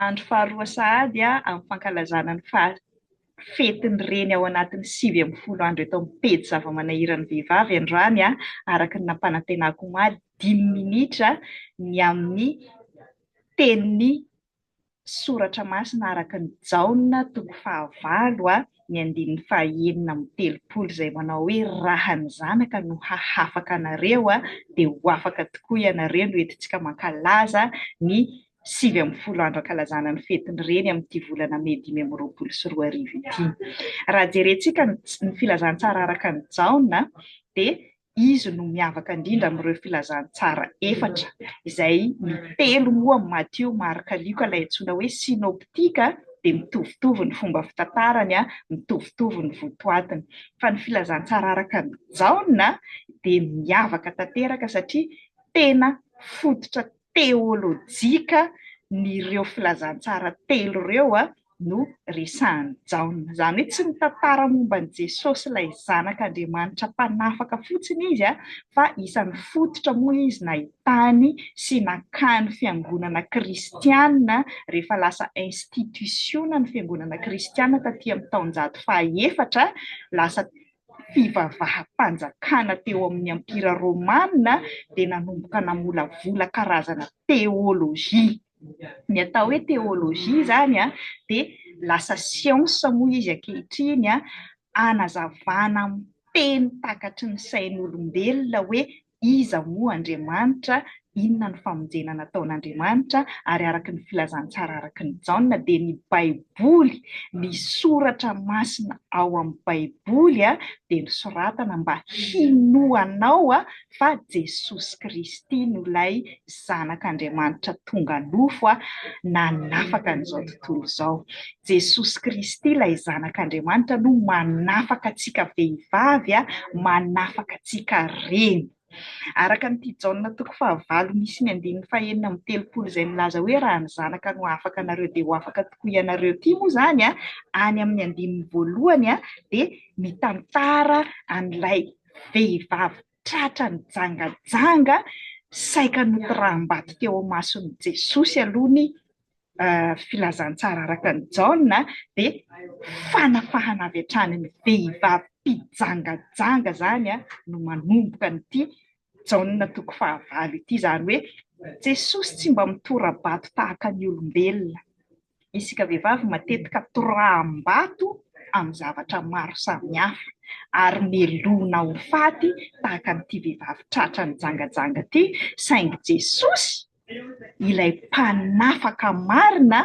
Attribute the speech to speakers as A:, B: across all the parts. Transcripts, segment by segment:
A: Andro faharoa sahady amin'ny fankalazana ny faha fetin'ny reny ao anatin'ny sivy ambin'ny folo andro eto amin'ny pejy zava-manahiran'ny vehivavy androany araka ny nampanantenako omaly dimy minitra ny amin'ny tenin'i Soratra masina araka ny Jaona toko fahavalo a ny andininy fahaenina amby telopolo izay manao hoe raha ny zanaka no hahafaka anareo a dia ho afaka tokoa ianareo no entintsika mankalaza ny sivy ambin'ny folo andro ankalazana ny fetin'ny reny amin'ity volana mey dimy amby roapolo sy roa arivo ity raha jerentsika ny ny filazantsara araka ny Jaona dia Izy no miavaka indrindra amin'ireo filazantsara efatra izay ny telo moa amin'i Matio, Marka, Lioka ilay antsoina hoe synoptika dia mitovitovy ny fomba fitantarany, mitovitovy ny votoatiny. Fa ny filazantsara araka an'i Jaona dia miavaka tanteraka satria tena fototra teolojika n'ireo filazantsara telo ireo no resahin'i Jaona. Izany hoe tsy mitantara momba an'i Jesosy ilay Zanak'Andriamanitra mpanafaka fotsiny izy fa isan'ny fototra moa izy nahitany sy nakany fiangonana kristiana rehefa lasa institisiona ny fiangonana kristiana taty amin'ny taonjato fahaefatra lasa fivavaham-panjakana teo amin'ny Empira Romana dia nanomboka namolavola karazana teolojia. Ny atao hoe teolojia izany dia lasa siansa moa izy ankehitriny, hanazavana amin'ny teny takatry ny sain'olombelona hoe Iza moa Andriamanitra? Inona no famonjena nataon'Andriamanitra? Ary araka ny filazantsara araka an'i Jaona dia ny Baiboly, ny soratra masina ao amin'ny Baiboly dia nosoratana mba hinoanao fa Jesosy Kristy no ilay Zanak'Andriamanitra tonga nofo nanafaka an'izao tontolo izao. Jesosy Kristy ilay Zanak'Andriamanitra no manafaka antsika vehivavy, manafaka antsika reny. Araka an'ity Jaona toko fahavalo misy ny andininy fahenina amby telopolo izay milaza hoe raha ny zanaka no afaka anareo dia ho afaka tokoa ianareo ity moa izany any amin'ny andininy voalohany dia mitantara an'ilay vehivavy tratra nijangajanga saika notoraham-bato teo imason'i Jesosy aloha ny filazantsara araka an'i Jaona dia fanafahana avy hatrany ny vehivavy mpijangajanga izany no manomboka an'ity Jaona toko fahavalo ity, izany hoe Jesosy tsy mba mitora-bato tahaka ny olombelona. Isika vehivavy matetika toraham-bato amin'ny zavatra maro samihafa ary melohina ho faty tahaka an'ity vehivavy tratra nijangajanga ity saingy Jesosy ilay mpanafaka marina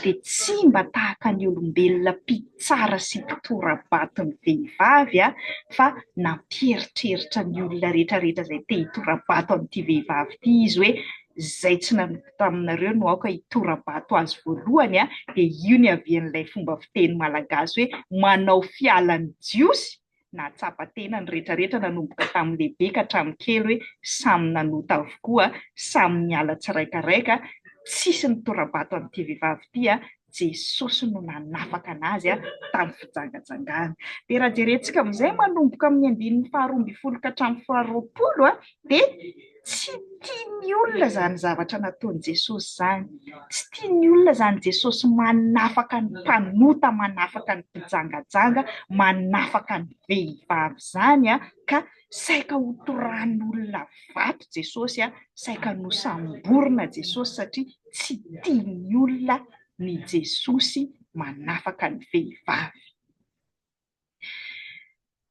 A: dia tsy mba tahaka ny olombelona mpitsara sy mpitora-bato ny vehivavy fa nampieritreritra ny olona rehetra rehetra izay te hitora-bato an'ity vehivavy ity izy hoe izay tsy nanompo taminareo no aoka hitora-bato azy voalohany a! dia io niavian'ilay fomba fiteny malagasy hoe manao fiala ny jiosy, nahatsapa tena ny rehetra rehetra nanomboka tamin'ny lehibe ka hatramin'ny kely hoe samy nanota avokoa, samy niala tsiraikaraika, tsisy nitora-bato an'ity vehivavy ity a! Jesosy no nanafaka anazy tamin'ny fijangajangana. Dia raha jerentsika amin'izay manomboka amin'ny andininy faharoa ambin'ny folo ka hatramin'ny faharoapolo dia tsy tian'ny olona izany zavatra nataon'i Jesosy izany. Tsy tian'ny olona izany Jesosy manafaka ny mpanota, manafaka ny mpijangajanga, manafaka ny vehivavy izany ka Saika hotorahan'olona vato Jesosy, saika nosamborina Jesosy satria tsy tian'ny olona ny Jesosy manafaka ny vehivavy.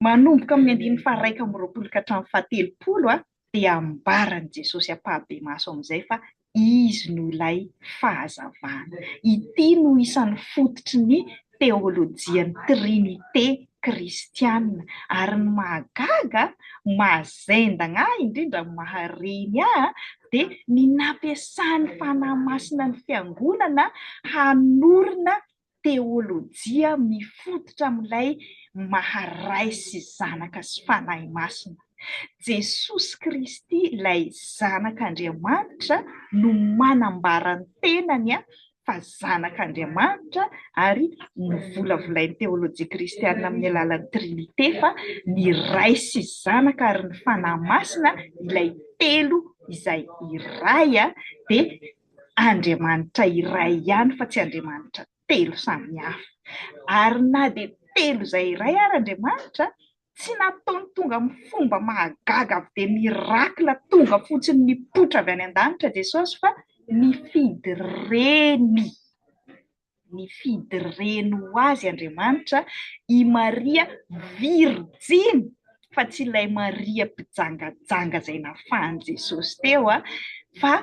A: Manomboka amin'ny andininy faharaika amby roapolo ka hatramin'ny fahatelopolo dia ambaran'i Jesosy ampahibemaso amin'izay fa Izy no ilay Fahazavana. Ity no isan'ny fototry ny teolojian'ny Trinite kristiana. Ary ny mahagaga, mahazendagna ahy indrindra, mahareny ahy, dia ny nampiasan'ny Fanahy Masina ny Fiangonana hanorina teolojia mifototra amin'ilay maha Ray sy Zanaka sy Fanahy Masina. Jesosy Kristy, ilay Zanak'Andriamanitra, no manambara ny tenany fa Zanak'Andriamanitra, ary novolavolain'ny teolojia kristiana amin'ny alalan'ny Trinite fa ny Ray sy Zanaka ary ny Fanahy Masina, ilay telo izay iray, dia Andriamanitra iray ihany fa tsy Andriamanitra telo samihafa. Ary na dia telo izay iray ary Andriamanitra, tsy nataony tonga amin'ny fomba mahagaga avy dia miracle tonga fotsiny nipoitra avy any an-danitra Jesosy fa nifidy reny. Nifidy reny ho azy Andriamanitra, i Maria virijiny, fa tsy ilay Maria mpijangajanga izay nafahan'i Jesosy teo, fa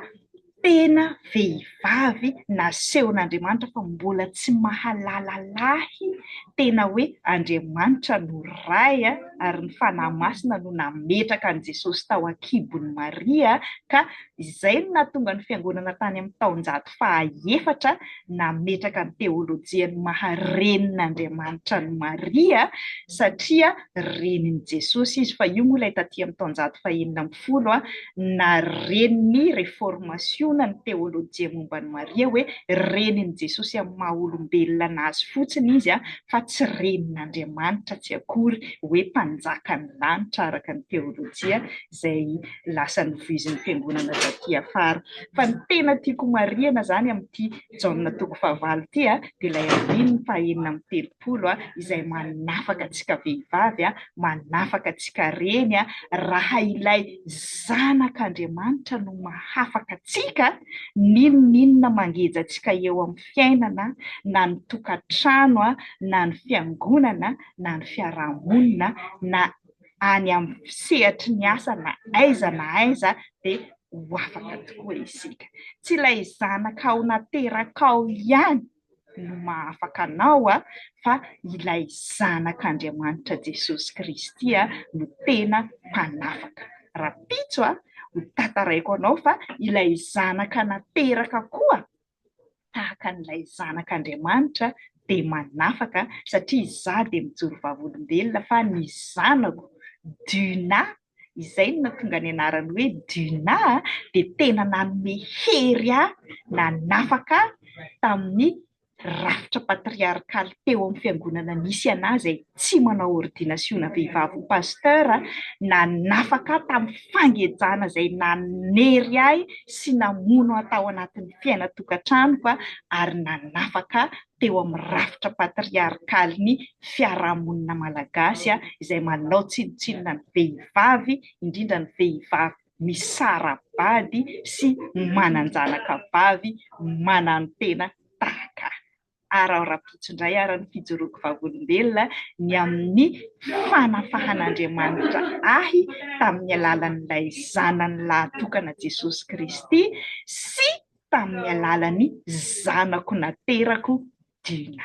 A: tena vehivavy nasehon'Andriamanitra fa mbola tsy mahalala lahy, tena hoe Andriamanitra no Ray ary ny Fanahy Masina no nametraka an'i Jesosy tao an-kibon'i Maria ka Izay no nahatonga ny Fiangonana tany amin'ny taonjato fahaefatra nametraka ny teolojian'ny maha renin'Andriamanitra an'i Maria satria renin'i Jesosy izy, fa io moa ilay taty amin'ny taonjato fahenina ambin'ny folo na renin'ny reformasiona ny teolojia momba an'i Maria hoe renin'i Jesosy amin'ny maha olombelona azy fotsiny izy fa tsy renin'Andriamanitra tsy akory hoe mpanjakan'ny lanitra araka ny teolojia izay lasa novoizin'ny fiangonana taty afara. Fa ny tena tiako homarihana izany amin'ity Jaona toko fahavalo ity dia ilay andininy fahenina amby telopolo izay manafaka antsika vehivavy, manafaka antsika reny, raha ilay Zanak'Andriamanitra no mahafaka antsika, n'inon'inona mangeja antsika eo amin'ny fiainana, na ny tokantrano, na ny fiangonana, na ny fiaraha-monina, na any amin'ny sehatry ny asa na aiza na aiza dia ho afaka tokoa isika. Tsy ilay zanakao naterakao ihany no mahafaka anao fa ilay Zanak'Andriamanitra Jesosy Kristy no tena mpanafaka. Rahampitso, hotantaraiko anao fa ilay zanaka nateraka koa tahaka an'ilay Zanak'Andriamanitra dia manafaka satria izaho dia mijoro vavolombelona fa ny zanako Duna izay no nahatonga ny anarany hoe Duna dia tena nanome hery ahy nanafaka ahy tamin'ny rafitra patriarkaly teo amin'ny fiangonana nisy an'azy e. tsy manao ordinasiona vehivavy ho pasteur na nafaka ahy tamin'ny fangejana izay nanery ahy sy namono ahy tao anatin'ny fiainan-tokantranoko ary nanafaka ahy teo amin'ny rafitra patriarkalin'ny fiarahamonina malagasy izay manao tsinontsinona ny vehivavy, indrindra ny vehivavy misara-bady sy manan-janaka vavy mananotena tahaka ahy. ary ao Rapotsy indray ary ny fijoroako vavolombelona ny amin'ny fanafahan'Andriamanitra ahy tamin'ny alalan'ilay Zanany lahatokana Jesosy Kristy sy tamin'ny alalan'ny zanako naterako Dina.